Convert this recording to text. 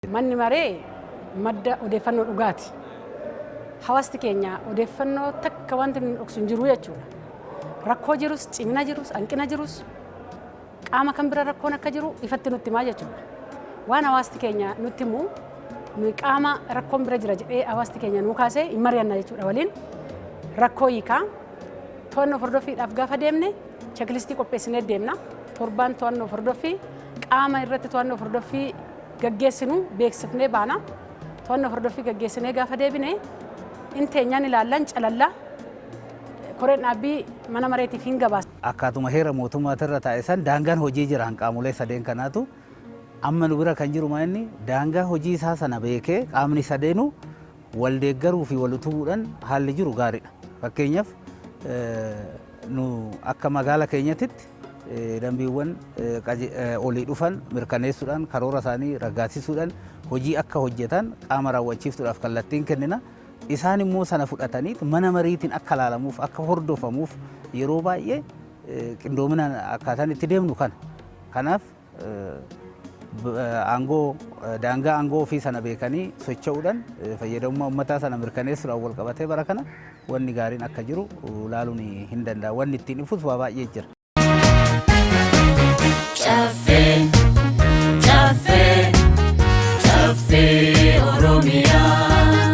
Manni maree madda odeeffannoo dhugaati. Hawaasti keenya odeeffannoo takka wanti inni dhoksu hin jiru jechuudha. Rakkoo jirus, cimina jirus, hanqina jirus, qaama kan bira rakkoon akka jiru ifatti nutti himaa jechuudha. Waan hawaasti keenya nutti himu nuyi qaama rakkoon bira jira jedhee hawaasti keenya nuu kaasee hin mari'anna jechuudha waliin. Rakkoo hiikaa to'annoo hordoffiidhaaf gaafa deemne chekilistii qopheessinee deemna. Torbaan to'annoo hordoffii qaama irratti to'annoo hordoffii gaggeessinu beeksifnee baana. To'annoo hordoffii gaggeessinee gaafa deebine in teenyaan ilaallan calalla. Koreen dhaabbii mana mareetiif hin gabaasa. Akkaatuma heera mootummaati irra taa'e san daangaan hojii jira kan qaamolee sadeen kanaatu. Amma nu bira kan jiru maa inni daangaa hojii isaa sana beekee qaamni sadeenuu wal deeggaruu fi wal utubuudhaan haalli jiru gaariidha. Fakkeenyaaf nu akka magaala keenyatitti dambiiwwan olii dhufan mirkaneessuudhaan karoora isaanii raggaasisuudhaan hojii akka hojjetan qaama raawwachiiftuudhaaf kallattiin kennina. Isaan immoo sana fudhatanii mana mariitiin akka laalamuuf akka hordofamuuf yeroo baay'ee qindoominaan akkaataan itti deemnu kana. Kanaaf aangoo daangaa aangoo ofii sana beekanii socho'uudhaan fayyadamummaa ummataa sana mirkaneessuudhaan wal qabatee bara kana wanni gaariin akka jiru ilaaluun hin danda'amu. Wanni ittiin ifus waa baay'ee jira. Caffee, caffee, caffee Oromiyaa.